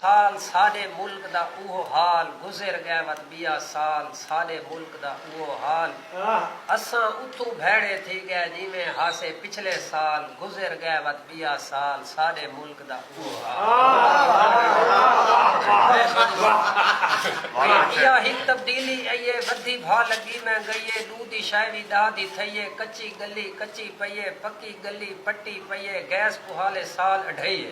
سال ساݙے ملک دا اوہو حال گزر ڳئے وت ٻیا سال ساݙے ملک دا اوہو حال اساں اتھوں بھیڑے تھی ڳئے جیویں ہاسے پچھلے سال گزر ڳئے وت ٻیا سال ساݙے ملک دا اوہو حال ٻیا ہک تبدیلی ائیے ودھی بھا لڳی میں ڳئیے ݙو دی شئے وی ݙاہ دی تھئیے کچی ڳلی کچی پئیے پکی ڳلی پٹی پئیے گیس پوہالے سال اڈھئیے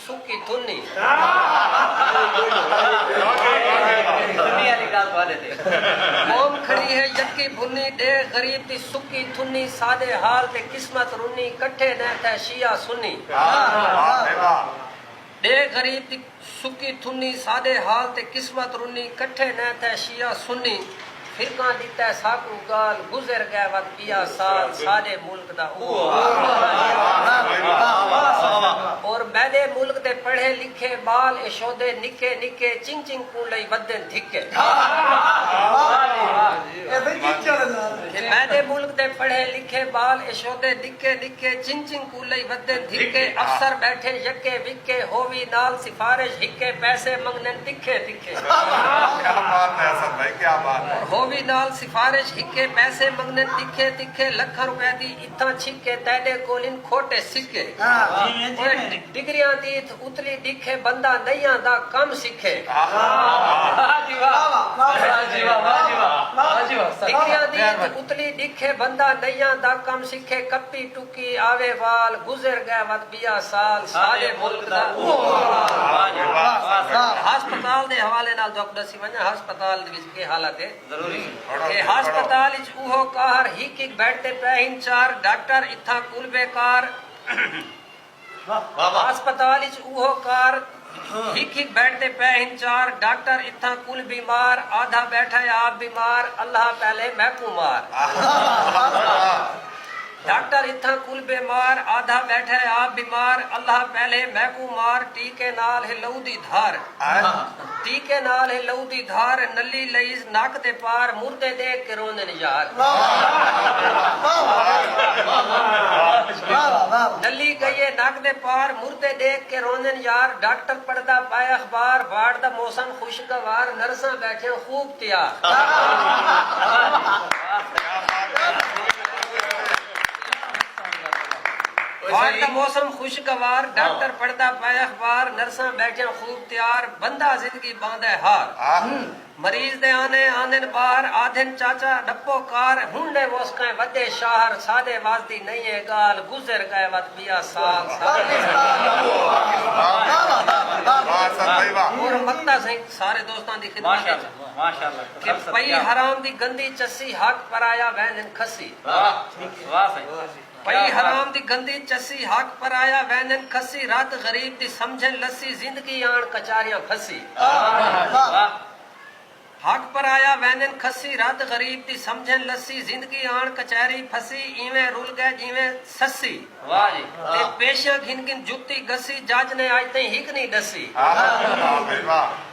سکی تنی قوم کھڑی ہے یکی بھنی ڈیھ غریب دی سکی تھنی ساڈے حال تے قسمت رنی کٹھے نیں تھے شیعہ سنی ڈیھ غریب دی سکی تھنی ساڈے حال تے قسمت رنی کٹھے نیں تھے شیعہ سنی فرقاں ݙتا ساکوں ڳال گزر ڳئے وت پیا سال ساݙے ملک دا اوہو حال اور میݙے ملک دے پڑھے لکھے ٻال اشودے نکے نکے چنگ چنگ کوں لئی ودن دھکے کہ میݙے ملک دے پڑھے لکھے ٻال اشودے نکے نکے چنگ چنگ کوں کولئی ودھن دھکے افسر بیٹھے یکے وکے ہووی نال سفارش ہکے پیسے منگنن تکھے تکھے ہووی نال سفارش ہکے پیسے منگنن تکھے تکھے لکھاں روپے دی اتھاں چھکے تیڈے کولھن کھوٹے سکے اوئے ڈگریاں دی اتھ اتلی ڈکھے بندہ نئیاں دا کم سکھے ڈگریاں دی اتھ اتلی ڈکھے بندہ نئیاں دا کم سکھے کپی کی آوے وال گزر گئے وت بیا سال ساڈے ملک دا اوہو حال ہسپتال دے حوالے نال دکھ ڈسی ونجاں ہسپتال دے وچ کے حالت ہے اے ہسپتال اچ اوہو قہر ہک ہک بیڈ تے پئے ہن چار ڈاکٹر اتھاں کل بے کار ہسپتال اچ اوہو کار ہک ہک بیڈ تے پئے ہن چار ڈاکٹر اتھاں کل بیمار آدھا بیٹھا ہے آپ بیمار اللہ پہلے میکوں مار ڈاکٹر اتھاں کل بیمار آدھا بیٹھا ہے آپ بیمار اللہ پہلے میکوں مار ٹیکے نال ہے لہو دی دھار۔ طیقے نال ہے لہو دی دھار نلی لئیز نک دے پار مردے ڈیکھ کے روندن یار نلی گئیے نک دے پار مردے ڈیکھ کے روندن یار ڈاکٹر پڑھدا پائے اخبار وارڈ دا موسم خوشگوار نرساں بیٹھیاں خوب تیار۔ تیار بندہ زندگی باندے ہار مریض دے آنے آندن باہر آدھن چاچا ڈپو کار ہن ڈے وس کئیں ودے شاہر سادے وس دی نئیں اے گال گزر گئے وت بیا سال اور مکتا سئیں سارے دوستاں دی خدمت اچ کہ پئی حرام دی گندی چسی حق پرایا ویندن کھسی۔ پئی حرام دی گندی چسی حق پرایا ویندن کھسی رت غریب دی سمجھن لسی زندگی آن کچاریاں پھسی حق پرایا ویندن کھسی رت غریب دی سمجھن لسی زندگی آن کچہری پھسی ایویں رل گئے جیویں سسی تے پیشیاں گھن گھن جتی گھسی جج نے اج تئیں ہک نی ڈسی۔